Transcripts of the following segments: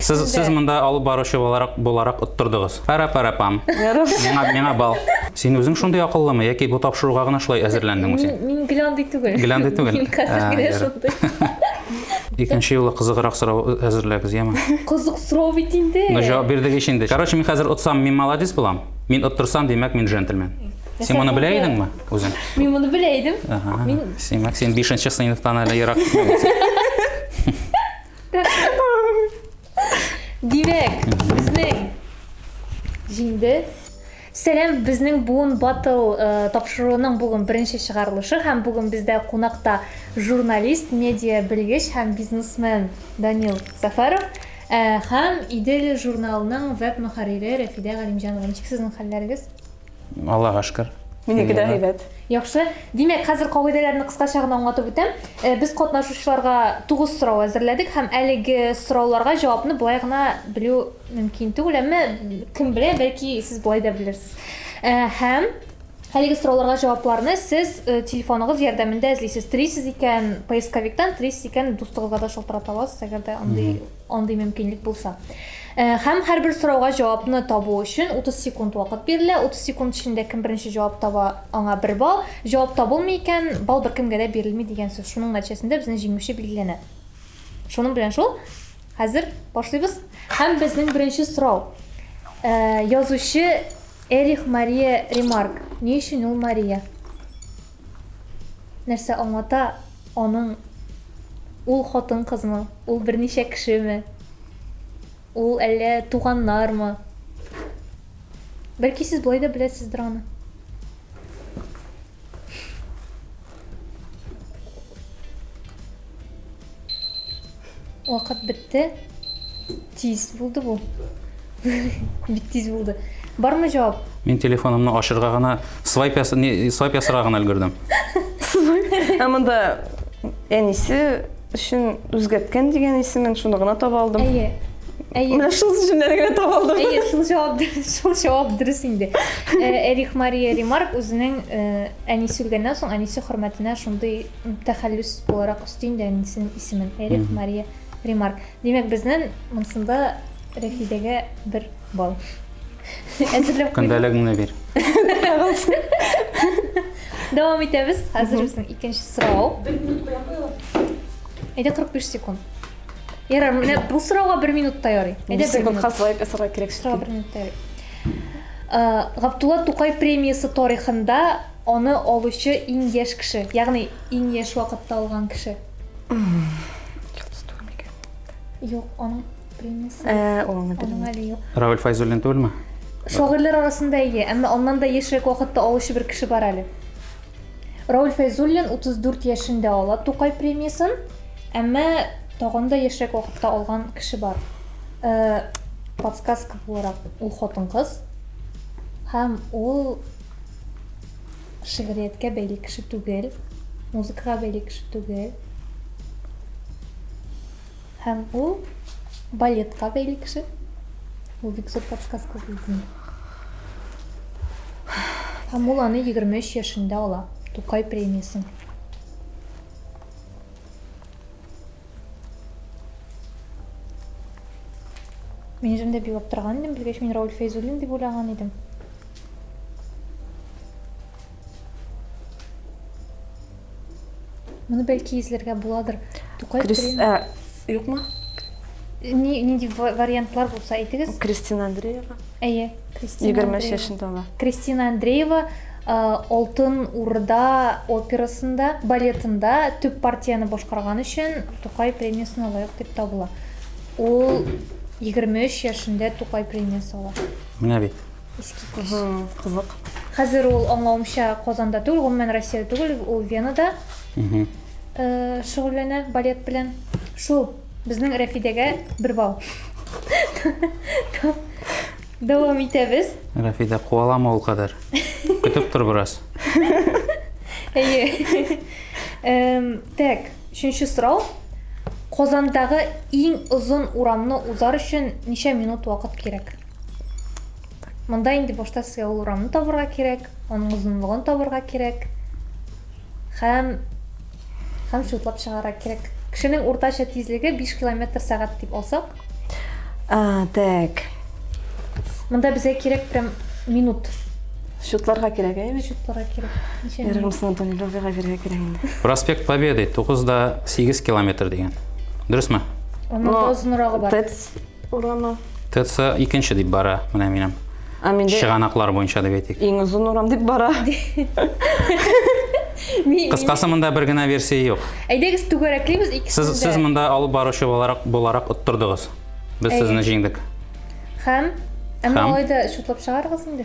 Сез, Сездә- сез монда алып баручы буларак, буларак оттырдыгыз. Пара-пара-пам. Миңа, миңа бал. Син үзең шундый акыллымы, яки бу тапшыруга гына шулай әзерләндеңме син? Мин, мин геландый түгел. Геландый түгел. Мин хәзер А, генә ярый. шундый. Икенче юлы кызыграк сорау әзерләгез, яме. Кызык сорау бит инде. Ну, җавап бирдек ич инде. Короче, мин хәзер отсам, мин молодец булам. Мин оттырсам, димәк, мин джентльмен. Син моны белә идеңме үзең? Мин моны белә идем. Ага. Мин- Симәк, син бишенче сыйныфтан әле ерак китмәгәнсең. Димәк, безнең җиңде. Сәлам, безнең буын батл э, тапшыруының бүген беренче чыгарылышы һәм бүген бездә кунакта журналист, медиа белгеч һәм бизнесмен Данил Сафаров э, һәм Идел журналының веб мөхәррире Рәфидә Галимҗанова. Ничек сезнең хәлләрегез? Аллага шкер. Минеке дә әйбәт. Яхшы. Димәк, хәзер кагыйдәләрне кыскача гына аңлатып үтәм. Э, без катнашучыларга тугыз сорау әзерләдек һәм әлеге сорауларга җавапны болай гына белү мөмкин түгел, әмма кем белә, бәлки сез болай да белерсез. Э, һәм әлеге сорауларга җавапларны сез э, телефоныгыз ярдәмендә эзлисез. Телисез икән поисковиктан, телисез икән дустыгызга да шалтырата аласыз, әгәр дә андый Андый мөмкинлек булса. Һәм һәрбер сорауга җавапны табу өчен 30 секунд вакыт бирелә. 30 секунд эчендә кем беренче җавап таба, аңа бер балл. Җавап табылмый икән, балл беркемгә дә бирелми дигән сүз. Шуның нәтиҗәсендә безнең җиңүче билгеләнә. Шуның белән шул. Хәзер башлыйбыз. Һәм безнең беренче сорау. Язучы Эрих Мария Ремарк. Ни өчен ул Мария? Нәрсә аңлата аның ул хатын-кызмы, ул берничә кешеме, ул әллә туганнармы? Бәлки сез болай да беләсездер аны. Вакыт бетте. Тиз булды бу. Бик тиз булды. Бармы җавап? Мин телефонымны ашырга гына свайп яса, не, свайп ясарга гына өлгердем. Ә монда әнисе өчен үзгәрткән дигән исемен шуны гына таба алдым. Әйе. Әйе. Менә шул җөмләне генә таба алдым. Әйе, шул җавап дөрес, шул җавап дөрес инде. Э, Эрих Мария Ремарк үзенең э, әнисе үлгәннән соң әнисе хөрмәтенә шундый тәхәллүс буларак өсти инде әнисенең исемен. Эрих Мария Ремарк. Димәк, безнен монсында Рәфидәгә бер бал. Әзерләп куйдым. Көндәлегеңне бир. Дәвам итәбез. Хәзер безнең икенче сорау. Бер минут куя куя. Әйдә 45 секунд. Ярар, менә бу сорауга 1 минут таяр. Әйдә 1 минут. Хаслай песара кирәк. Сорау 1 минут таяр. Э, Гаптула Тукай премиясе тарихында аны алучы иң яшь кеше, ягъни иң яшь вакытта алган кеше. Юк, аның премиясе. Ә, аңа Аның әле юк. Равиль Файзуллин түгелме? Шагыйрьләр арасында ие, әмма аннан да яшьрәк вакытта алучы бер кеше бар әле. Рауль Фәйзуллин 34 яшендә ала Тукай премиясын, әмма тагын да яшьрәк вакытта алган кеше бар. Э, подсказка буларак ул хатын-кыз һәм ул Шигърияткә бәйле кеше түгел, музыкага бәйле кеше түгел. Һәм ул балетка бәйле кеше. Ул бик зур подсказка булды. Һәм ул аны 23 яшендә ала. Тукай премиясен. Мин үзем дә билап торган идем, белгәч мин Рауль Фәйзуллин дип уйлаган идем. Моны бәлки изләргә буладыр. Тукай Крис... Ә, юкмы? Ни, нинди вариантлар булса әйтегез. Кристина Андреева. Әйе, Кристина. Егерме өч яшендә ала. Кристина Андреева Алтын Урда операсында, балетында төп партияне башкарган өчен Тукай премиясенә лаек дип табыла. Ул 23 яшендә Тукай премиясе ала. Менә бит. Искиткеч. Кызык. Хәзер ул аңлавымча Казанда түгел, гомумән Россиядә түгел, ул Венада шөгыльләнә балет белән. Шул Безнең Рәфидәгә бер балл. Дәвам итәбез. Рәфидә, куалама ул кадәр. Көтеп тор бераз. Әйе. Эм, Так, өченче сорау. Казандагы иң озын урамны узар өчен ничә минут вакыт кирәк? Монда инде башта сезгә ул урамны табырга кирәк, аның озынлыгын табырга кирәк. Хәм хәм шутлап чыгарга кирәк. Кешенең уртача тизлеге 5 км сәгать дип алсак. А, так. Монда безгә кирәк прям минут. Шутларга кирәк, ә? Без шутларга кирәк. Ярымсын Антоний Лёвига бирә кирәк инде. Проспект Победы 9 да 8 километр дигән. Дөресме? Аның озынрагы бар. Тец урамы. ТЦ икенче дип бара, менә минем. Ә миндә чыганаклар буенча дип әйтик. Иң озын урам дип бара. Кыскасы монда бер генә версия юк. Әйдәгез түгәрәклибез икесен дә. Сез сез монда алып баручы буларак буларак оттырдыгыз. Без сезне җиңдек. Һәм Әмма алай да чутлап чыгарыгыз инде.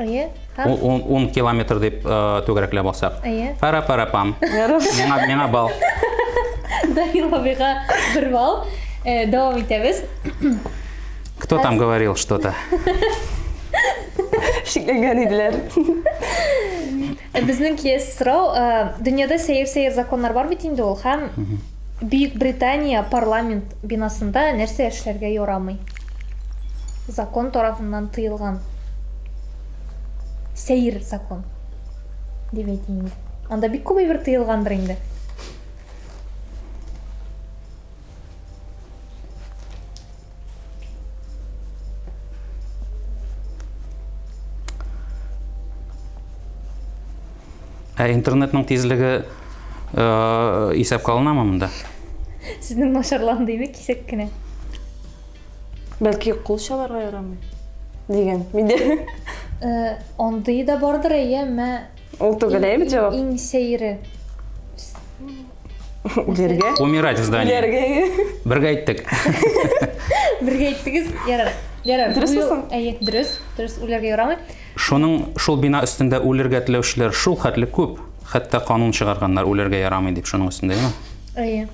Әйе. Һәм? Ун, ун километр дип э, түгәрәкләп алсак. Әйе. Пара пара пам. Миңа миңа бал. Даир абыйга бер бал. Э, Дәвам итәбез. Кто там говорил что-то? Шикләнгән иделәр. Э, Безнең киес сорау, э, дөньяда сәер-сәер законнар бар бит инде ул, һәм Бөекбритания парламент бинасында нәрсә эшләргә ярамый? Закон тарафыннан тыелган. Сәер закон. Дип әйтим инде. Анда бик күп әйбер тыелгандыр инде. Ә интернетның тизлеге э, исәпкә алынамы монда? Сезнең нашарлан дими кисәк кенә. Бәлки кул чаларга ярамый дигән миндә. Э, андый да бардыр әйе, мә. Ул түгел әйе бит җавап. Иң сәере. Җиргә. Умирать в здании. Җиргә. Бергә әйттек. Бергә әйттегез. Ярар. Ярар. Дөрес булсын. Әйе, дөрес. Дөрес үләргә ярамый. Шуның шул бина өстендә үлергә теләүчеләр шул хәтле күп. Хәтта канун чыгарганнар үлергә ярамый дип шуның өстендә, яме? Әйе.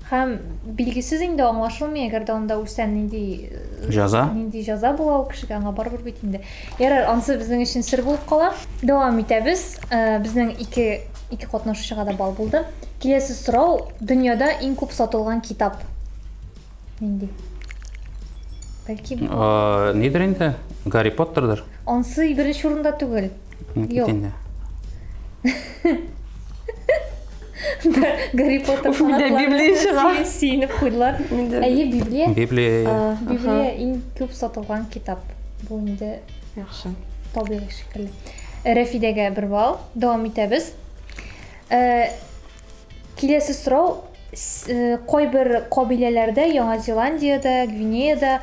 Һәм билгесез инде аңлашылмый, әгәр дә анда үлсә нинди э, җаза? Нинди җаза була ул кешегә, аңа барыбер бит инде. Ярар, ансы безнең өчен сер булып кала. Дәвам итәбез. Э, безнең ике Ике катнашучыга да бал булды. Киләсе сорау, дөньяда иң күп сатылган китап. Нинди? Бәлки Э, Нидер инде? Гарри Поттердыр. ансы беренче урында түгел. М, Юк. инде. Гарри Поттер Уф, менә фанатлары Библия чыга. сине Сөенеп куйдылар. Менде. Әйе, Библия. Библия. А, Библия иң күп сатылган китап. Бу инде Яхшы. табигый шикелле. Рәфидәгә бер балл. Дәвам итәбез. Э, киләсе сорау э, кайбер кабиләләрдә, Яңа Зеландиядә, Гвинеяда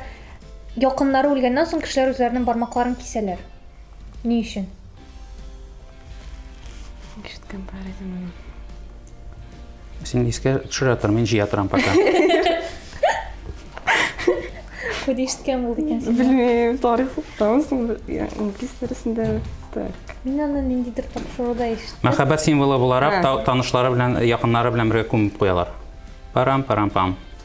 якыннары үлгәннән соң кешеләр үзләренең бармакларын кисәләр. Ни өчен? Ишеткән бар идем Син искә төшерә тор, мин җыя торам пока. Күз ишеткән булды икәнсең. Белмим, тарих укытамысың, инглиз дәресендә так. Мин аны ниндидер тапшыруда ишеттем. Мәхәббәт символы буларак танышлары белән, якыннары белән бергә күмеп куялар. Парам-парам-пам.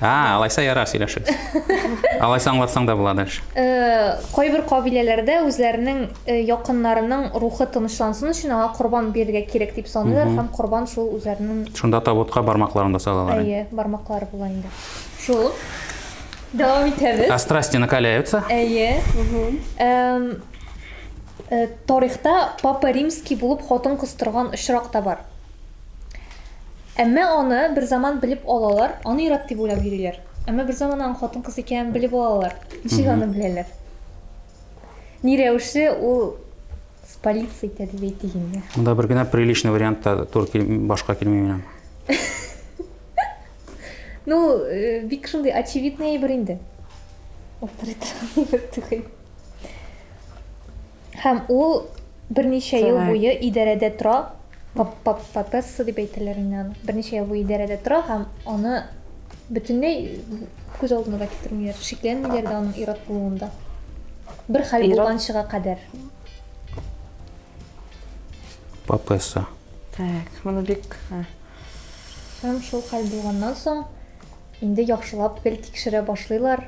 А, алайса ярар, сөйләшегез. Алайса аңлатсаң да була дальше. Э, кайбер кабиләләрдә үзләренең э, якыннарының рухы тынычлансын өчен аңа корбан бирергә кирәк дип саныйлар һәм корбан шул үзләренең Шунда табутка бармакларын да салалар. инде. әйе бармаклары була инде. Шул. Дәвам итәбез. А страсти накаляются. Әйе. Эм, э, Тарихта Папа Римский булып хатын кыз торган очрак та бар. Әмма аны берзаман белеп алалар, аны ир-ат дип уйлап йөриләр. Әмма берзаман аның хатын-кыз икәнен белеп алалар. Ничек аны беләләр? Ни рәвешле ул спалиться итә дип әйтик инде. Монда бер генә приличный вариант та тур кил, башка килми минем. Ну, э, бик шундый очевидный әйбер инде. Авторитарный бер түгел. Һәм ул берничә ел буе идарәдә тора. Папасса дип әйтәләр инде аны. Берничә ел буе идарәдә тора һәм аны бөтенләй күз алдына да китермиләр. Шикләнмиләр дә аның ир-ат булуында. Бер хәл булганчыга кадәр. Папасса. Так, моны бик... Һәм шул хәл булганнан соң, инде яхшылап гел тикшерә башлыйлар.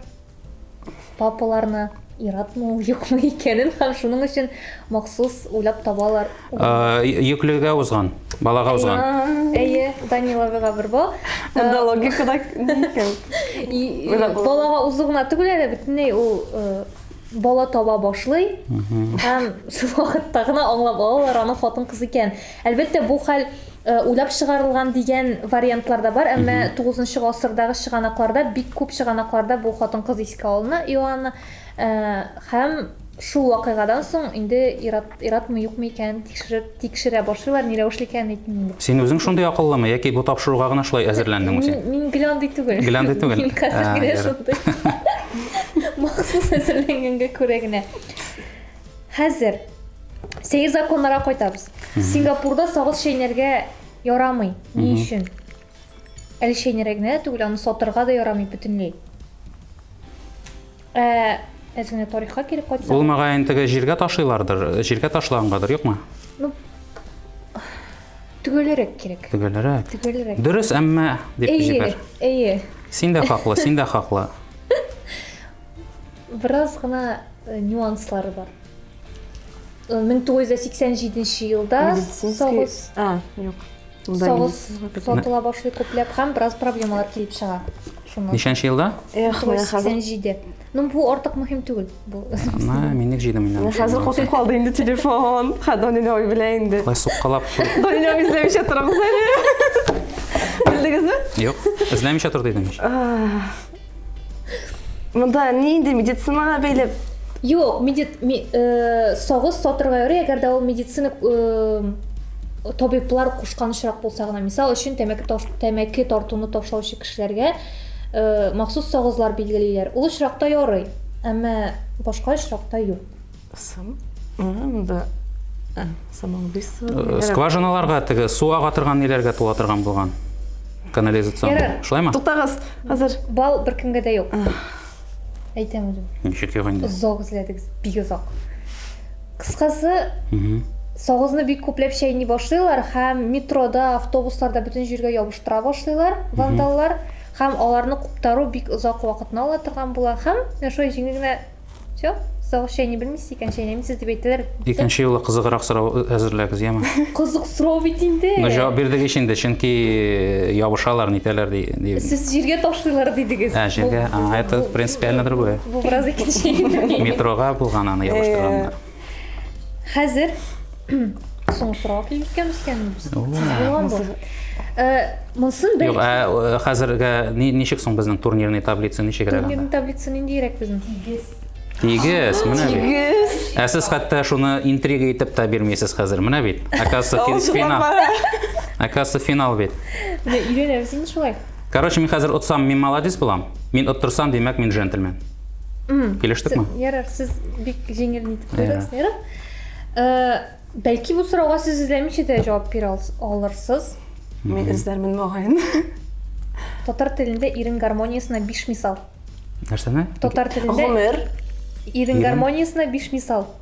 папаларны яратмый ул юкмы икәнен һәм шуның өчен махсус уйлап табалар. Йөклегә узган, балага узган. Әйе, Данила бер бу. Монда логика да икән. Балага узу гына түгел әле, бөтенләй ул бала таба башлый һәм шул вакытта гына аңлап алалар аның хатын кыз икән. Әлбәттә, бу хәл уйлап чыгарылган дигән вариантлар да бар, әмма тугызынчы гасырдагы чыганакларда, бик күп чыганакларда бу хатын-кыз искә алына, Иоанна, һәм шул вакыйгадан соң инде ир-атмы-юкмы икәнен тикшереп-тикшерә башлыйлар, ни рәвешле икәнен әйтмим инде. Син үзең шундый акыллымы, яки бу тапшыруга гына шулай әзерләндеңме син? Мин гел андый түгел. Гел андый түгел. Мин хәзер генә шундый. Махсус әзерләнгәнгә күрә генә. Хәзер сәер законнарга кайтабыз. Сингапурда сагыз чәйнәргә ярамый. Ни өчен? Әле чәйнәргә генә дә түгел, аны сатырга да ярамый бөтенләй. Ә, әз генә тарихка килеп кайтсак. Ул мөгаен теге җиргә ташыйлардыр, җиргә ташлагангадыр, юкмы? Ну, төгәлрәк кирәк. Төгәлрәк. Төгәлрәк. Дөрес, әмма дип җибәр. Әйе, әйе. Син дә хаклы, син дә хаклы. Бераз гына нюанслары бар. 1987 елда сагыз, а, юк. Сагыз сатыла башлый күпләп һәм бераз проблемалар килеп чыга. Шуны. Ничәнче елда? Эх, менә хәзер. 87. Ну, бу артык мөһим түгел. Бу. Ма, мин ник җыйдым инде. Хәзер косып калды инде телефон. Хадонин ой белә инде. Кай суккалап. Донин ой эзләмичә торыгыз әле. Белдегезме? Юк, эзләмичә тор дидем. Монда ни инде медицинаға бәйле? Юк, медит ми, э, сагыз сатырга ярый, әгәр дә ул медицина э, табиблар кушкан очрак булса гына. Мисал өчен, тәмәке таш, тәмәке тартуны ташлаучы кешеләргә э, махсус сагызлар билгелиләр. Ул очракта ярый, әмма башка очракта юк. Сам... Монда ә, самоубийство. Э, скважиналарга теге су ага торган ниләргә тула торган булган. Канализацион. Ярар. Шулаймы? Туктагыз. Хәзер бал беркемгә дә юк. Әйтәм үзем. Ничек юк инде? Озак эзләдегез, бик озак. Кыскасы, сагызны бик күпләп чәйни башлыйлар һәм метрода автобусларда бөтен җиргә ябыштыра башлыйлар вандаллар һәм аларны куптару бик озак вакытны ала торган була һәм менә шулай җиңел генә Все, соус чәйни белмисез икән, чәйнәмисез дип әйтәләр. Икенче юлы кызыграк сорау әзерләгез, яме. Кызык сорау бит инде. Ну, җавап бирдек ич инде, чөнки ябышалар, нитәләр ди. Сез җиргә ташлыйлар дидегез. Ә, җиргә. А, это принципиально другое. Бу бераз икенче. Метрога булган аны ябыштырганнар. Хәзер соңгы сорауга килеп җиткәнбез икән. Монсын бер. Юк, ә хәзергә ничек соң безнең турнирный таблица ничек әле? Турнирный таблица ниндирәк безнең? Тигез. Тигез, менә бит. Тигез. Ә сез хәтта шуны интрига итеп тә бирмисез хәзер, менә бит. Оказывается, финал. Оказывается, финал бит. Менә өйрәнәбез инде шулай. Короче, мин хәзер отсам, мин молодец булам. Мин оттырсам, димәк, мин джентльмен. Килештекме? Ярар, сез бик җиңел нитеп торыгыз. Ярар. Э, бәлки бу сорауга сез эзләмичә дә җавап бирә алырсыз. Мин эзләрмен мөгаен. Татар телендә ирен гармониясенә биш мисал. Нәрсәне? Татар телендә. Гомер. Ирен гармониясенә биш мисал.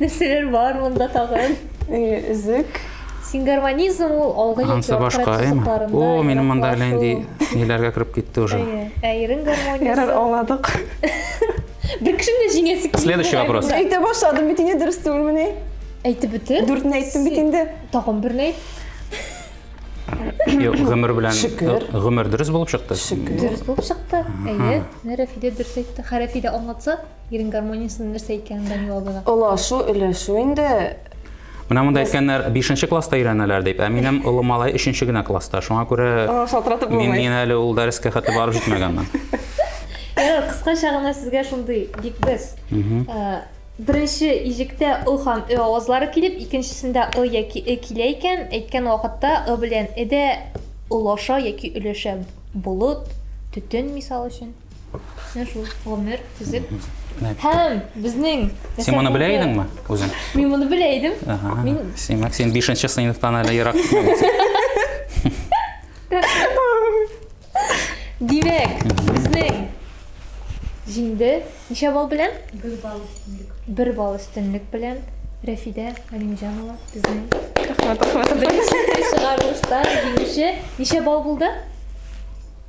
Нәрсәләр бар монда тагын? Үзек. Сингармонизм ул алгы яки аркырак сызыкларында. О, минем монда әле инде ниләргә кереп китте уже. Ә ирен гармониясе. Ярар, аңладык. Бер кешене дә җиңәсе килми. Следующий вопрос. Әйтә башладым бит инде дөрес түгелмени? Әйтеп бетер. Дүртне әйттем бит инде. Тагын берне әйт. Юк, гомер белән гомер дөрес булып чыкты. Дөрес булып чыкты. Әйе, Рәфидә дөрес әйтте. Хәрәфидә аңлатса, Ирен гармониясенең нәрсә икәнен дә аңлый алдыга. Олашу, өләшү инде. Менә монда әйткәннәр 5 класста өйрәнәләр дип, ә минем олы малай 3 генә класста. Шуңа күрә шалтыратып булмый. Мин әле ул дәрескә хәтле барып җитмәгәнмен. Ярар, кыскача гына сезгә шундый бик без. Беренче иҗектә ы һәм ө авазлары килеп, икенчесендә ы яки э килә икән, әйткән вакытта ы белән э дә олаша яки өләшә. Болыт, төтен, мисал өчен. Менә шул гомер төзек. Һәм безнең Син моны белә идеңме үзең? Мин моны белә идем. Мин Симәк, син 5нче сыйныфтан әле ерак Димәк, безнең җиңде. Ничә балл белән? Бер балл өстенлек. Бер балл өстенлек белән Рәфидә Галимҗанова безнең. Рәхмәт, рәхмәт. Беренче чыгарылышта җиңүче. Ничә балл булды?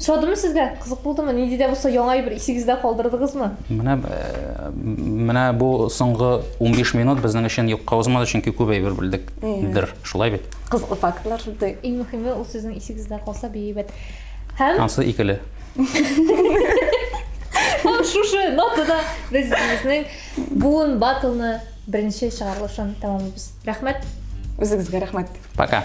Шадымы сезгә? Кызык булдымы? Нинди дә булса яңа әйбер исегездә калдырдыгызмы? Менә э, менә бу соңгы 15 минут безнең өчен юкка узмады, чөнки күп әйбер белдек. Дер, шулай бит. Кызыклы фактлар шуды. Иң мөһиме ул сезнең исегездә калса бейбәт. Һәм Ансы икеле. Һәм шушы нотада без безнең буын батлны беренче чыгарылышын тәмамлыйбыз. Рәхмәт. Үзегезгә рәхмәт. Пока.